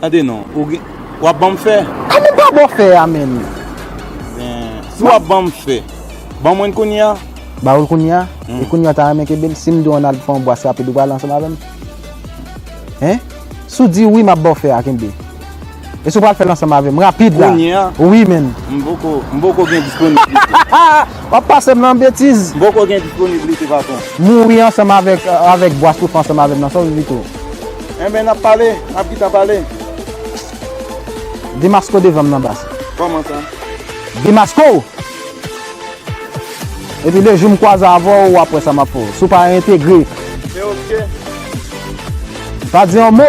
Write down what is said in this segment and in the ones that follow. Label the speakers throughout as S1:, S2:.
S1: Tande non, ou gen, wap banm fè? A men pa bon fè
S2: a menm. Ben,
S1: si wap banm fè, ban mwenn kounye a? Ba oul kounye a?
S2: E kounye a ou ta renmen kenbel? Sim di w ann al fè yon bwas rapid ou pral ansanm avèm? Hein? Si w di wi map baw fè a kenbe. E si w pral fèl ansanm avèm rapid la? Kounye a? Wi menn.
S1: M poko,
S2: m poko gen
S1: disponiblite. Wap pasem
S2: nan betiz. M poko gen disponiblite
S1: patron. Mouri ansanm avèk,
S2: avèk bwas ou fè ansanm avèm nan sa w vle di tou? Enben nap
S1: pale, nap gitan pale.
S2: Demasco devanm nan baz. Koman sa?
S1: Demasco!
S2: Epi le jou m kwaze avè w wap wè sa map fè w. Si w pa reentegre. Se ok. Pa di yon mo!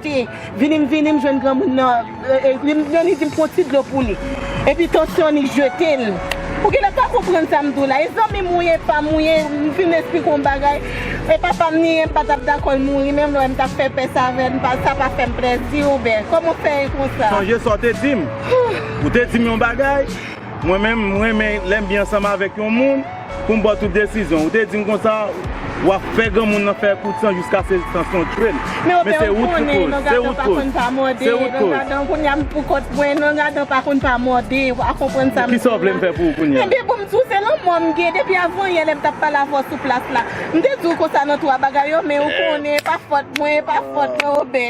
S3: Te vini m vini m jwenn granmoun nan epi li di m pran ti dlo pou li epi tansyon li jete l ou genlè pa konprann sa m di w la e zanmi m ou ye pa m ou ye m fin esplike w yon bagay e papa m ni m pa tap dakò l mouri menm lè m tap fè pès avè l sa pa fè m plèzi ou bè kòman w fè e konsa. Sonje sa w te di m
S1: ou te di m yon bagay mwen menm m renmen lè m byen ansanm avèk yon moun. Pou m ba w tout desizyon. Ou te di m konsa, w ap fè granmoun nan fè kout san jiska se tansyon w tchwe'l. Men ou te ou konnen nan gadan pa konn pa mòde, nan gadan kounya m pou kont mwen, nan gadan pa konn pa mòde, ou pa konprann sa m di la. Kisa w vle m fè pou ou kounya? Ebyen pou m di w se lanmò
S3: m gen depi avan yè lè m t ap pale avè w sou plas la. M te di w konsa nan 3 bagay yo men ou konnen e pa fòt mwen, e pa fòt mwen Obè.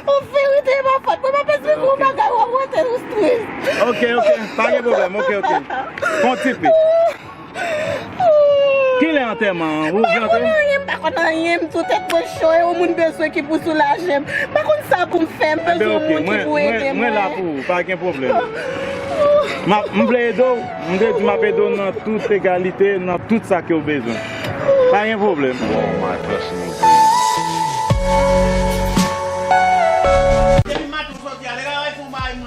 S3: Ou vérité e pa fòt mwen, m ap esplike w yon bagay w ap wè tèt ou stress. Ok ok pa gen
S1: problem ok ok Fon ti pi Kilè antèman an ou gen antèman? M pa konn anyen
S3: m tou tèt mwen cho e ou moun bezwen ki pou soulaje m m pa konn sa pou m fè m bezwen yon moun ki pou ede mwen. Mwen la pou ou pa gen
S1: problem M vle ede w m te di m ap ede w nan tout egalite nan tout sa ke w bezwen pa gen problem.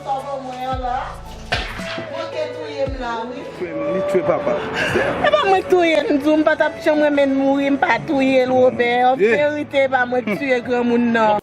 S1: Papa mwen an la. Mwen te touye m la wi. Frè m li tue papa. E pa mwen k
S3: touye m di w m pa tap janm renmen l mouri m pa touye l Robert verite e pa mwen k tuye granmoun nan.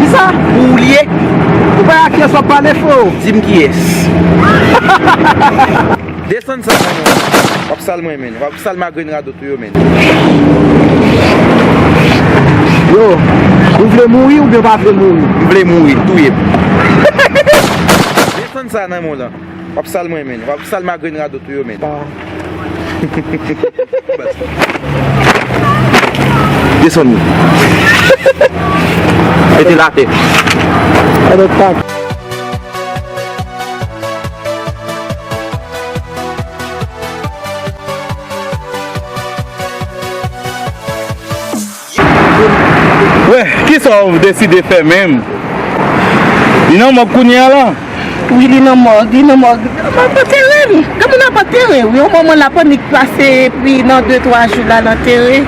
S1: Kisa
S2: pou ou li ye?
S1: Ou pa a
S2: kiyes wap pale freo. Dim kiyes.
S1: Desann sa nan menw la. Wap sal mwen menn. Wap sal magrenn radot ou yo menn.
S2: Yo. Ou vle mouri oubyen ou pa vle mouri. M vle mouri. Touyem.
S1: Desann sa nan menw la. Wap sal mwen men. Wap sal ma grenn radot ou yo men. Desann nou. Mete la te.
S2: Mete la te.
S1: Wè, kisa w deside fè menm? Li nan mòg kounye a la? Wi, li nan
S3: mòg, li nan mòg. Mwen ap antere l. Gen moun ap antere w. Yon moman l ap annik pase epi nan de twa jou l al antere.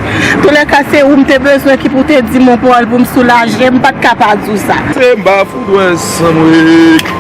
S3: Toulèka se ou m te bezwen ki pou w te di m yon pawòl pou m soulaje. M pa t ka pa di w sa. Se m ba fout wè
S4: san mwen.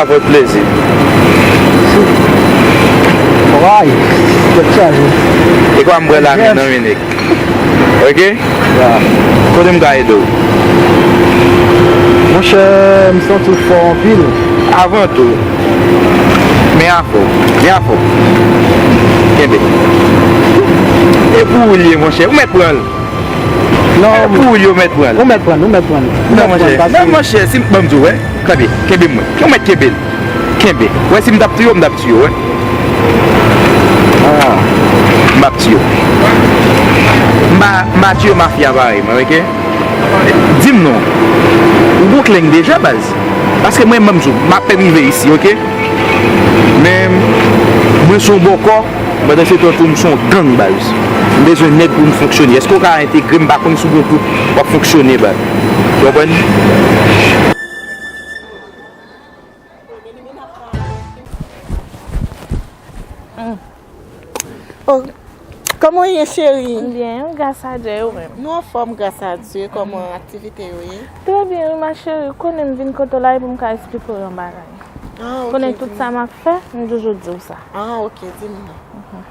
S4: Avèk plezi.
S2: Ekwa m bwè
S4: la mi non Minik. Ok.
S2: Kote m ka
S4: ede w?
S2: Monchè m santi w fò anpil. Avan tou.
S4: Men avè w. Men avè w. Kenbe. E pou ou l ye monchè. Ou mèt pran l. Nan
S2: ou pou yo mèt
S4: pranl. Ou mèt pranl, ou mèt pranl.
S2: Nan
S4: monchè, nan monchè, si m, banm di w wè, tande, kenbe mwen, ou mèt kenbe l, kenbe, wè si m t ap tiye w m t ap tiye w wè, an, m ap tiye w, m pa, m pa tiye mafya parèy mwen ok, di m non, ou gon kleng deja baz, paske mwen banm di w, m apèn rive isi ok, men, mwen son bòkò. Pandan se tankou m son gang baz. M bezwen nèg pou m fonksyone. Eske w ka entegre m pa konn si w gen tout w ap fonksyone baz. Ou konprann? Oh
S3: Koman w ye cheri? M byen, gras a
S5: Dye. E ou menm? Nou anfòm gras
S3: a Dye. Koman aktivite yo ye? Trè byen wi ma
S5: cheri, ou konnen m vin kote w la e pou m ka esplike w yon bagay. Ou konnen
S3: tout sa m ap fè,
S5: m toujou di w sa. An ok, di m
S3: non.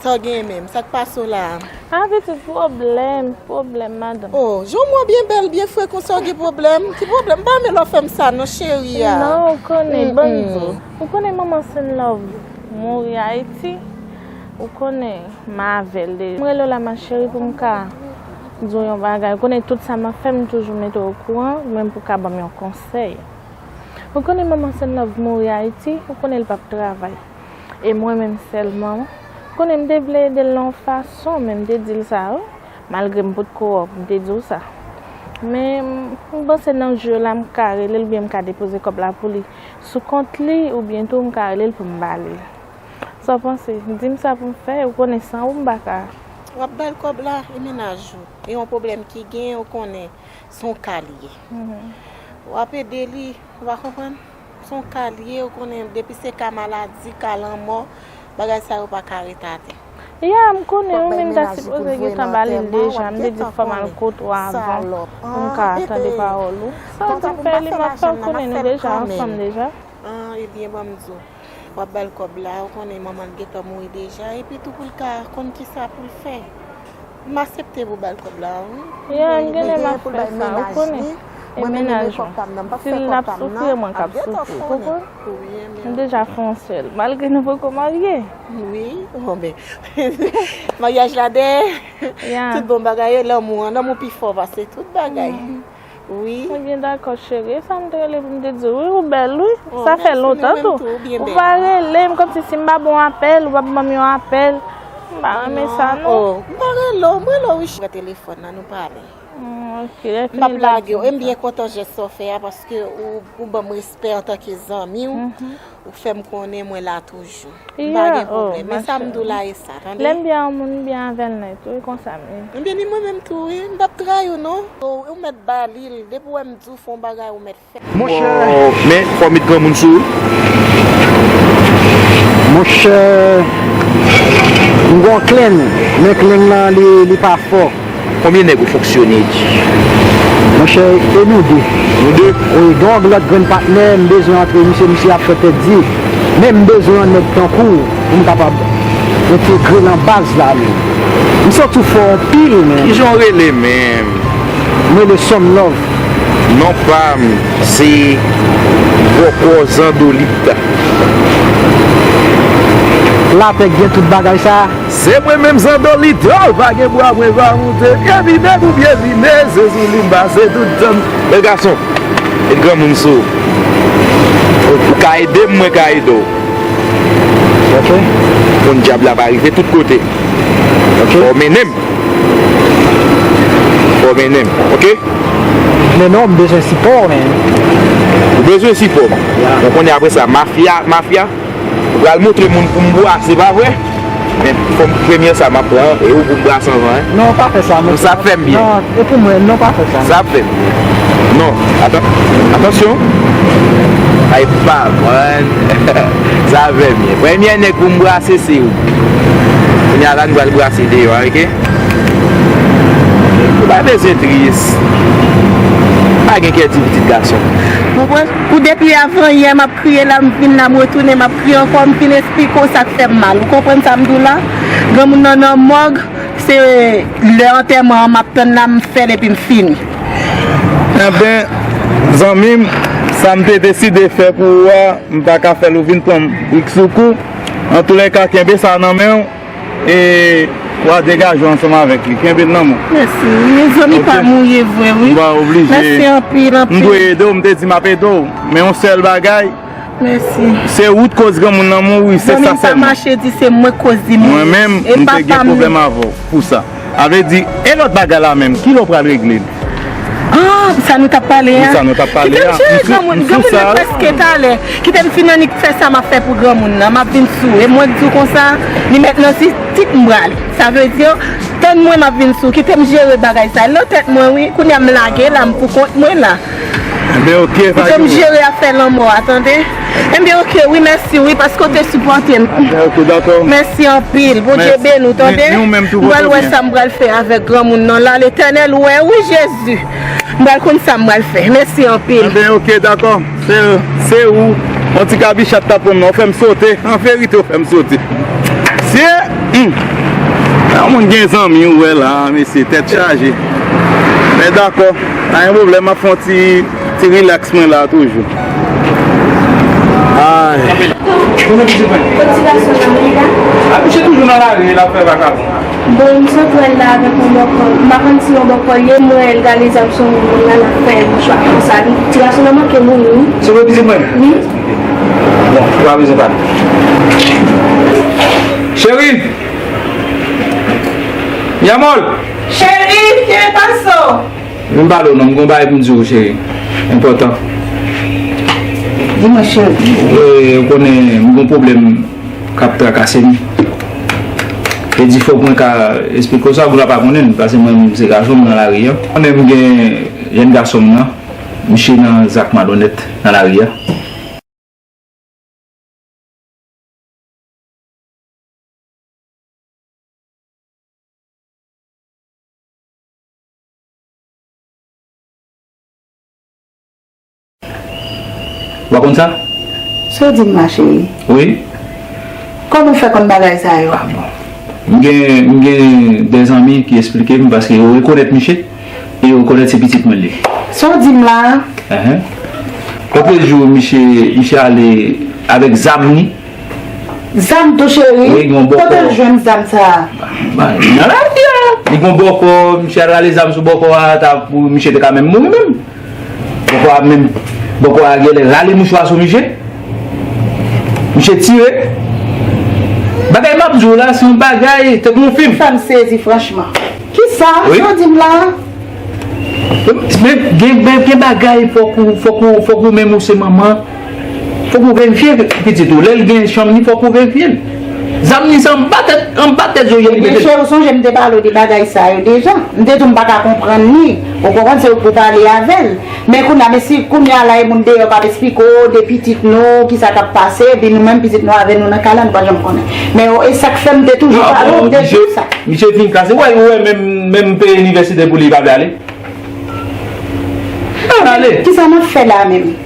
S3: Sa w genyen menm? Sa k pase w la a? A pitit,
S5: pwoblèm, pwoblèm madanm. O, jan w wè w byen
S3: bèl, byen fre konsa w gen pwoblèm? Ki pwoblèm? M pa renmen lè w fè m sa non cheri a. Non, ou konnen,
S5: ban m di w. Ou konnen manman Senlove mouri Ayiti, ou konnen m avè l deja. M rele w la ma cheri pou m ka di w yon bagay, ou konnen tout sa m ap fè m toujou mete w okouran, menm pou w ka ban m yon konsèy. Ou konnen manman Sennòv mouri Ayiti, ou konnen l p ap travay. E mwen menm sèlman, ou konnen m te vle ede l nan yon fason, men m te di l sa wi, malgre m pot ko wè w, m te di w sa. Men, m panse nan jou yo la m ka rele l oubyen m ka depoze kòb la pou li sou kont li oubyen tou m ka rele l pou m ba li l. Sa w panse? Di m sa pou m fè, ou konnen san ou m pa ka. W ap ba l kòb
S3: la, e mennaj ou, e yon pwoblèm ki genyen ou konnen s on ka l ye. W ap ede li, ou pa konprann? S on ka l ye, ou konnen depi se ka maladi, ka lanmò, bagay sa yo pa ka ret atè. Ya, m
S5: konnen, ou menm ta sipoze gen tan ba li l deja, m te di w fò m al kot ou avan pou m ka tande pawòl ou. Sa w di m fè li, m ap fè, ou konnen nou deja ansanm deja. An, ebyen ban
S3: m di w. Wap bal kòb la ou konnen manmanl gentan mouri deja epi tou poul ka konn kisa poul fè m asepte pou bal kòb la wi. Yeah m genlè
S5: map fè sa ou konnen e mennaj mwen sil nap soufri e mwen kap soufri ou konprann m deja fè yon sèl malgre nou poko marye. Wi bon
S3: ben maryaj la dèyè tout bon bagay yo lanmou an lanmou pi fò pase tout bagay. wi. Mwen byen dakò
S5: cheri. E sa m t rele pou m te di w wi ou bèl wi. Sa fè lontan tou. Ou pa rele m kòmsi si m pa ba w apèl ou pap ban m yon apèl. M pa renmen sa non. M pa rele w, m rele
S3: w wi cheri. Pran telefòn nan nou pale. Ok lè
S5: fini m ap di w sa.
S3: M byen kontan jès sa w fè a paske ou ban m respè antanke zanmi w. Ou fem konnen mwen la toujou. M pa gen pwoblem. Men sa m di w la e sa, tande. Lem byen yon moun m
S5: byen avel net wi konsa m ye. M byen ni mwen menm tou
S3: wi. M pap trayi w non. Ou met ba li l. Depi w wè m di w fè yon bagay ou met fè. Men
S2: fò w met
S4: granmoun sou ou.
S2: Monchè m gen yon kleng. Men kleng lan li pa fò. Konbyen nèg ou
S4: fonksyone di.
S2: Monchè e nou 2. Nou 2? Wi
S4: gen yon lòt grenn
S2: patnè m bezwen antre misye misye ap fè tèt di men m bezwen yon nèg tankou w pou m kapab entegre lan baz la men misye w tou fò anpil men. Kijan w rele menm?
S4: M rele
S2: Some Love. Non pa
S4: m se Bòkò Zandolit.
S2: Lapè gen tout bagay sa? Se mwen menm
S4: zandolito pa gen bwa mwen va moute pye vide pou pye vide se sou li m pase tout tan m. Bèl gason, met granmoun sou ou. Ou ka ede m mwen ka ede
S2: w ok.
S4: Konn dyab la pa rive tout kote ok. Fò w
S2: mennen m
S4: Fò w mennen m ok. Mennen
S2: w m bezwen sipò w man. Ou bezwen
S4: sipò m? Bon kounye a apresa mafya mafya. Ou pral montre moun poum bwase pa vre? Men fom premye sa map pran e ou poum bwase anvan hein. Non pa fè sa. Non
S2: sa ap fèm byen. Non
S4: e pou mwen non pa
S2: fè sa. Sa ap fèm byen.
S4: Non atan atansyon. Ay pa man sa ap fèm byen. Premye nèg poum bwase se ou. Kounya la nou pral bwase deyò a ok. Ou pa bezwen tris. Pa gen kè di pitit gason. Pou mwen. Pou
S3: depi avan yè map kriye la m vin la m retounen map kriye ankò m fin esplike w sak fèm mal ou konprann sa m di w la granmoun nan nan mòg se lè antèman an map tann la m fèl epi m fini.
S1: Anben zanmi m sa m te deside fè pou ou a m paka fèl ou vin pran m brik sou kou antoulèka kenbe sa nan men w. E wa degaje ansanm avek li. Kenbe l nan men w. Mèsi. Mezanmi
S3: pa mouye vre wi. Mpa oblije. Mèsi
S1: anpil anpil. M
S3: dwe ede w, m te di map ede
S1: w. Men yon sèl bagay. Mèsi.
S3: Se ou t koz
S1: granmoun nan mouri, se sa sèlman. Zanmi m pa mache di se
S3: mwen k
S1: koz
S3: li mouri. Mwen menm, m te
S1: gen pwoblèm avè w pou sa. A vle di, e lòt bagay la menm, ki lè w pral regle l? An,
S3: pou sa nou t ap pale a. Pou sa nou t ap pale a.
S1: Kite m jere granmoun. M sou sa. Granmoun
S3: nan prèske t ale. Kite m fin annik fè sa m ap fè pou granmoun nan. M ap vin sou. E mwen k di w konsa, li mèt nan ti tip m prale. Sa vle di, tann mwen m ap vin sou. Kite m jere bagay sa. L nan tèt mwen wi. Kounye a m lage la, m pou kont mwen la. Enben ok pa gen
S1: problèm. Ou fèm jere afè
S3: lanmò a tande. Enben ok wi mèsi wi paske ou te sipòtem. Enben ok dakò.
S1: Mèsi anpil
S3: Bondye beni w tande. Ni ou menm tou pote byen. M pral wè sa
S1: m pral fè
S3: avèk granmoun nan la letènèl wè wi jezi. M pral konn sa m pral fè. Mèsi anpil. Enben ok dakò
S1: se ou on ti kabichat tap pranm nan ou fèm sote an verite ou fèm sote. Mesye humm lè yon moun gen zanmi ou wè la mesye tèt chaje men dakò. Pa gen pwoblèm map fè yon ti ti relax mwen la
S6: toujou
S4: ahh. Cheri
S3: gen paso. Vin m pale w non m
S4: gon bagay pou m di w cheri enpòtan.
S3: Di mwen cheri. Ou konnen m gon
S4: pwoblèm k ap trakase m. E di fòk mwen ka esplike w sa pou la pa konnen pase mwen menm se gason m nan lari an. Ou konnen m gen jenn gason m nan miche nan zak malonèt nan lari a. Wa konn sa? Sa w di m la
S3: cheri? Wi.
S4: Kòman
S3: w fè konn bagay sa yo? Ah bon. M gen,
S4: m gen de zanmi ki esplike m paske yo rekonèt miche e yo rekonèt se pitit mwen l ye. Sa w di m la?
S3: Ehe.
S4: Kèk jou miche, miche ale avèk zam li.
S3: Zam tou cheri? Wi gen yon bòkò. Kote l jwenn
S4: zam sa
S3: a? Nan
S4: lari a. Li gen yon bòkò, misye al rale zam sou bòkò a, ta pou misye te ka menm mouri menm. Bòkò a menm, bòkò a genlè rale mouchwa sou misye. Misye tire. Bagay m ap di w la se yon bagay tankou yon fim. Sa m sezi franchman.
S3: Kisa? Sa w di m la a?
S4: Men gen bagay fòk ou, fòk ou, fòk ou menm ou se manman. Fòk ou verifye pitit ou lèl gen chanm ni fòk ou verifyel Zam ni se anba tèt anba tèt Zoya li metel. Cheri ou sonje m te
S3: pale w de bagay sa yo deja m te di w m paka konprann li ou konprann se ou k pou pale avèl men kounya men si kounya la e moun deyò kap esplike w de pitit nou kisa kap pase epi nou menm pitit nou avè nou nan kay la nou pa janm konnen men yo e sak fèm te toujou pale w de misye sa. Misye fin kase wèl
S4: ou wè menm menm peye inivèsite pou li li pa vle ale.
S3: Kisa nap fè
S4: la menm.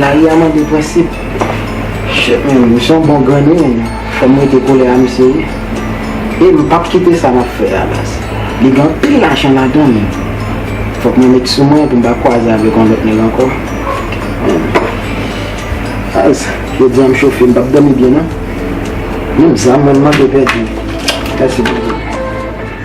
S2: Lari a mande prensip. Shit men wi, misye yon bon grenn wi moun. Fòm rete kole a misye wi. E m pap kite sa map fè a baz. Li gen anpil lajan ladan l. Fòk mwen met sou mwen pou m pa kwaze avèk yon lòt nèg ankò. Baz, jodi a m chofe, m pap dòmi byen non. Menm zam mwen m manke pèdi. Mèsi Bondye.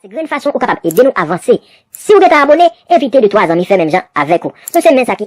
S7: Se grenn fason ou kapab ede nou avanse. Siw gentan abone, envite de 3 zanmi fè menm jan avèk ou. Nou se men sa ki.